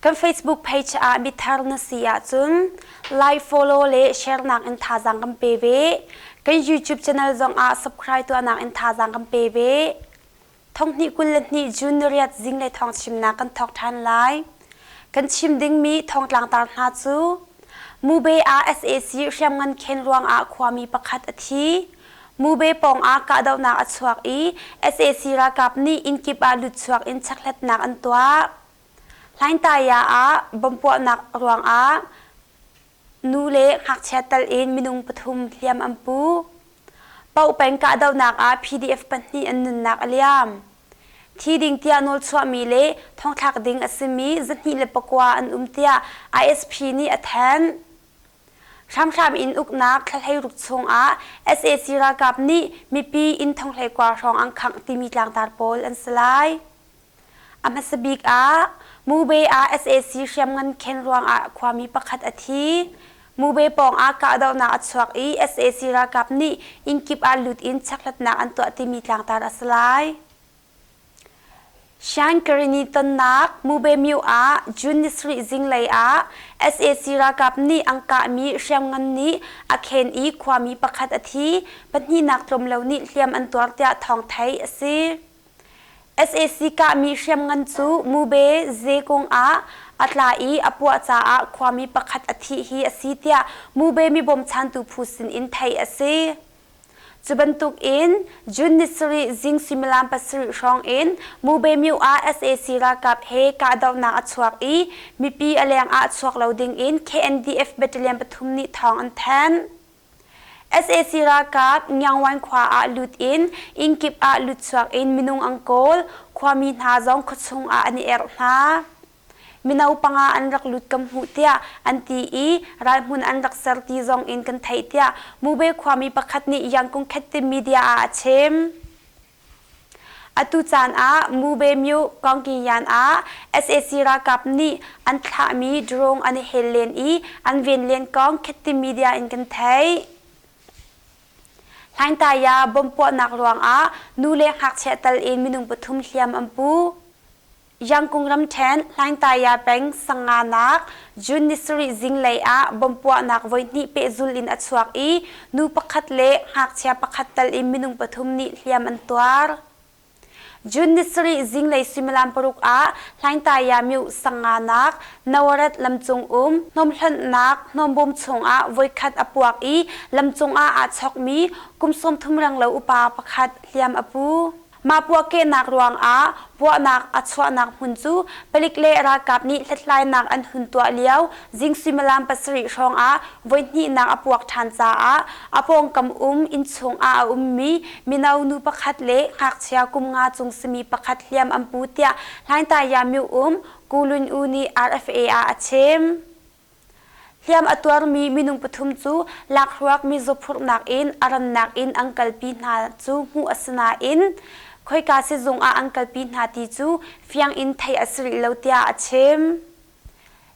Kan Facebook page ah mithar na si ahcun like, follow le share nak in thazaang kan pe ve. Kan YouTube channel zong ah subscribe tuahnak in thazaang kan pe ve. Thonghnih kul le hnih June ni riat zing le thong chimnak kan thawk ṭhan lai. Kan chim dingmi thongtlangtar hna cu Mube ah SAC hriamngan khen ruang ah khuami pakhat a thi. Mube pawng ah kahdohnak a chuak i SAC ralkap nih innkip ah lut chuak in chekhletnak an tuah. Hlaintaya ah bomb puahnak ruangah nu le ngakchia tal in minung pathum hliam an pu. Paoh peng kahdohnak ah PDF pahnih an nunnak a liam. Thi ding tiah nawl chuahmi le thongthlak ding a simi zahnih le pakua an um tiah ISP nih a thanh. Hramhram in uknak thlahlei chungah sac ralkap nih mipi inn thonghlei kuar hrawng an khangh timi tlangtar pawl an si lai. A hmasa bik ah Mube ah sac hriamngan khen ruangah khuami pakhat a thi. Mube pawngah kahdohnak a chuak i sac ralkap nih innkip ah lut in checkhlatnak an tuah timi tlangtar a si lai. Shankarini tonnak Mubemyu ah June ni sarih zinglei ah sac ralkap nih an kahmi hriamngan nih a khen i khuami pakhat a thi, pahnihnak tlawmlo nih hliam an tuar tiah thawng theih a si. sac kahmi hriamngan cu Mube Zekung ah a tla i a puah caah khuami pakhat a thih hi a si tiah Mube mi bawmchantu phu sinin theih a si. Cu bantuk in June ni sarih zing suimilam pasarih hrawng in Mubemyu ah sac ralkap he kahdohnak a chuak i mipi a leng ah chuak lo ding in KNDF battalion pathum nih thawng an thanh. sac ralkap Nyangwan khua ah lut in innkip ah lut chuak in minung an kawl, khuami hna zong khuachung ah an i erh hna. Mino panga an rak lut kan hmuh tiah an ti i ralhmun an rak ser ti zong in kan theih tiah Mube khuami pakhat nih Yangkung Khettim media ah a chim. Atu caan ah Mube Myu Kongkingyan ah sac ralkap nih an thlahmi drone an i hel len i an ven len kong Khettim media in kan theih. Hlaingtaya bomb puahnak ruangah nu le ngakchia tal in minung pathum hliam an pu. Yangkung ramṭhen Hlaingtaya peng sanganak June ni sarih zinglei ah bomb puahnak voihnih pehzul in a chuak i nu pakhat le ngakchia pakhat tal in minung pathum nih hliam an tuar. June ni sarih zinglei suimilam paruk ah Hlaingtaya myu sanganak Nawarat lamcung um hnawmhlonhnak hnawmbawm chungah voikhat a puak i lamcung ah aa chawkmi kum sawm thum renglo upa pakhat hliam a pu. Mah puahkehnak ruangah puahnak a chuahnak hmun cu palik le ralkap nih hlethlainak an hun tuah lio zing suimilam pasarih hrawngah voihnihnak a puak ṭhan caah a pawngkam um inn chungah a ummi mino nu pakhat le ngakchia kum nga chung simi pakhat hliam an pu tiah Hlaingtaiyamyu um Kulun U nih RFA ah a chim. Hliam a tuarmi minung pathum cu lakhruak mizaw phurhnak in a rannak in an kalpi hna cu hmuh a si nain khoika sizung ah an kalpi hna ti cu fiang in theih a si rih lo tiah a chim.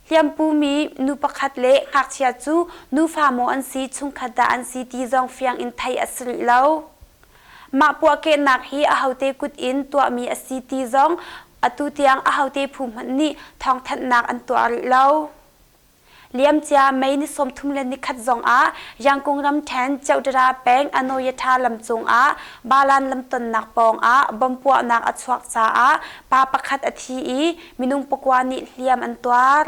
Hliampumi nu pakhat le ngakchia cu nufa maw an si chungkhat dah an si ti zong fiang in theih a si rih lo. Mah puahkehnak hi ahote kut in tuahmi a si ti zong atu tiang ahote phu hmanh nih thawngthanhnak an tuah rih lo. Liamcia May ni sawmthum le nikhat zong ah Yangkung ramthen Chowdhury peng Anoyatha lam cung ah Balan lamtonnak pawng ah bom puahnak a chuak caah pa pakhat a thi i minung pakua nih hliam an tuar.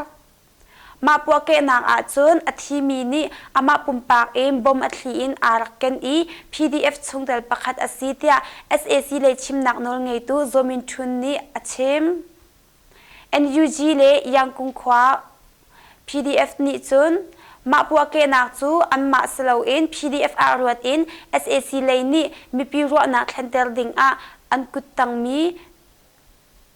Mah puahkehnak ahcun a thimi nih amah pumpak in bom a thli in aa rak ken i PDF chungtel pakhat a si tiah sac lei chimnak nawl ngeitu Zaw Min Htun nih a chim. NUG le Yangkung khua PDF nih cun mah puahkehnak cu anmah si loin PDF ah ruat in sac lei nih mipi ruahnak thlenter dingah an kuttangmi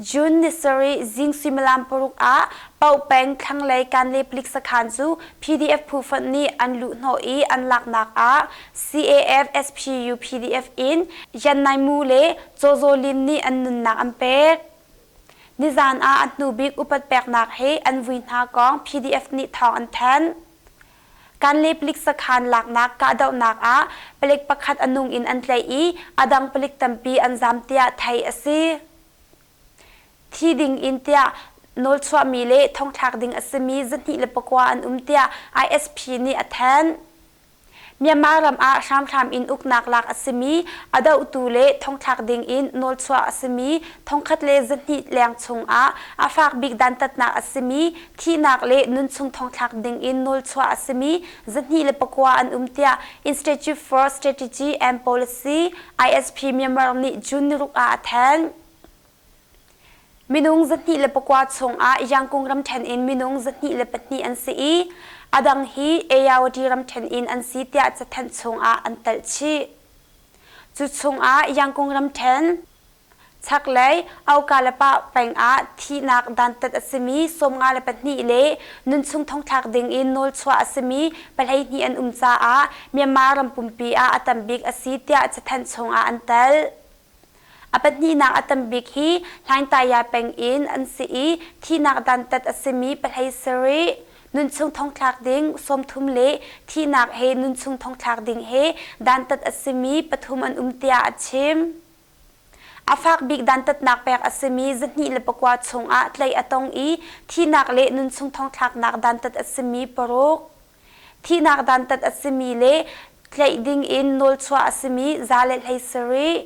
June ni sarih zing suimilam paruk ah Pau peng thlanglei Kanle Palik sakhan cu PDF phu fonh nih an luhhnawh i an laknak ah CAF SPU PDF in Yan Nai Mu le Caw Zaw Lin nih an nunnak an pek. Nizan ah a hnubik upat peknak he an vui hna kong PDF nih thawng an thanh. Kan le palik sakhan laknak kahdohnak ah palik pakhat a nung in an tlaih i a dang palik tampi an zam tiah theih a si. Thi ding in tiah nawlchuahmi le thongthlak ding a simi zahnih le pakua an um tiah ISP nih a thanh. Myanmar ram ah hramhram in uknak lak a simi a dohtu le thongthlak ding in nawlchuah a simi thongkhat le zahnih leng chung ah a fak bik dantatnak a simi Thihnak le nunchung thongthlak dingin nawlchuah a simi zahnih le pakua an um tiah Institute for Strategy and Policy, ISP Myanmar nih June niruk ah a thanh. Minung zahnih le pakua chungah Yangkung ramṭhen in minung zahnih le pahnih an si i a dang hi Ayawati ramṭhen in an si tiah cathanh chungah an talh chih. Cu chungah Yangkung ramṭhen Chaklei aukalepah pengah thihnak dantat a simi sawmnga le pahnih le nunchung thongthlak dingin nawlchuah a simi pahleihnih an um caah Myanmar ram pumpi ah a tambik a si tiah cathanh chungah an tel. A pahnihnak a tambik hi Hlaintaya peng in an si i thihnak dantat a simi pahlei sarih nunchung thongthlak ding sawmthum le thihnak he nunchung thongthlak ding he dantat a simi pathum an um tiah a chim. A fak bik dantatnak pek a simi zihnih le pakua chungah tleih a tong i thihnak le nunchung thongthlaknak dantat a simi paruk, thihnak dantat a simi le tleih ding in nawlchuah a simi za le hlei sarih,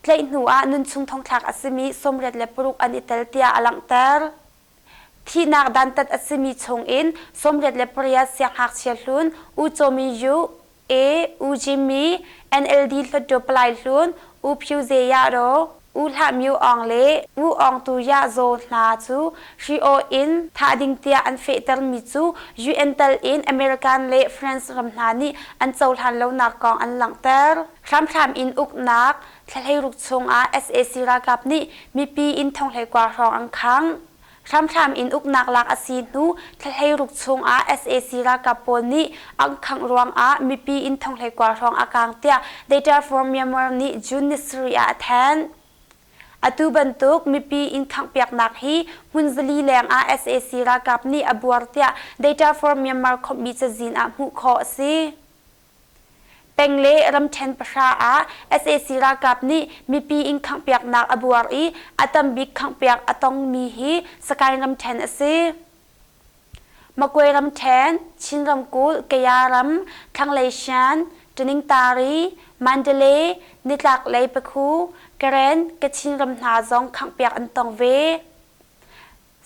tleih hnuah nunchung thongthlak a simi sawmriat le paruk an i tel tiah a langhter. Thihnak dantat a simi chungin sawmriat le pariat sianghngakchia hlun U Cawmin Yu, A. U Jimmi, NLD hluttaw palai hlun U Phyu Ze Yahraw, U Hlah Myo Aung le Ngu Aung Tu Yah Zaw hna cu Hri-aw in thah ding tiah an fehtermi cu UN tal in American le France ram hna nih an cohlan lonak kong an langhter. Hramhram in uknak, Thlahleiruk chungah sac ralkap nih mipi inn thonghlekua hrawng an khang. Hramthlam in uknak lak a si hnu Thlahleiruk chungah sac ralkap pawl nih an khangh ruangah mipi inn thonghlekua hrawng a kang tiah The Terre for Myanmar nih June ni sarih ah a thanh. Atu bantuk mipi inn khanghpiaknak hi hmunzali lengah sac ralkap nih a buar tiah The Terre for Myanmar khawmhmi cazin ah hmuh khawh a si. Peng le ramṭhen pahra ah sac ralkap nih mipi inn khanghpiaknak a buar i a tambik khanghpiak a tongmi hi Sakaing ramṭhen a si. Makwe ramṭhen, Chin ramkulh, Kaya ram, Thlanglei Shan, Ṭiningtari, Mandalay, nitlaklei Pekhu, Karen, Kachin ram hna zong khanghpiak an tong ve.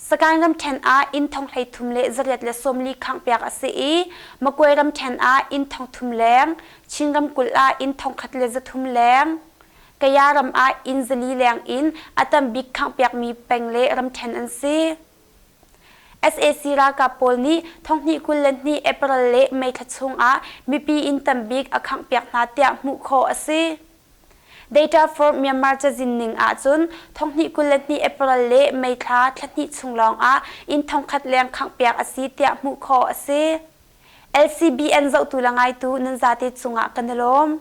Sagaing ramṭhen ah inn thong hleithum le zariat le sawmli khanghpiak a si i Makwe ramṭhen ah inn thong thum leng, Chin ramkulh ah inn thong khat le zathum leng, Kaya ram ah inn zali leng in a tam bik khanghpiakmi peng le ramṭhen an si. sac ralkap pawl nih thonghnih kul le hnih April le May thla chung ah mipi inn tam bik a khanghpiak hna tiah hmuh khawh a si. Data for Myanmar cazin ning ahcun thonghnih kul le hnih April le May thla thla hnih chung lawngah inn thongkhat leng khanghpiak a si tiah hmuh khawh a si. LCBN zohtu le ngaitu nan zate cungah kan i lawm.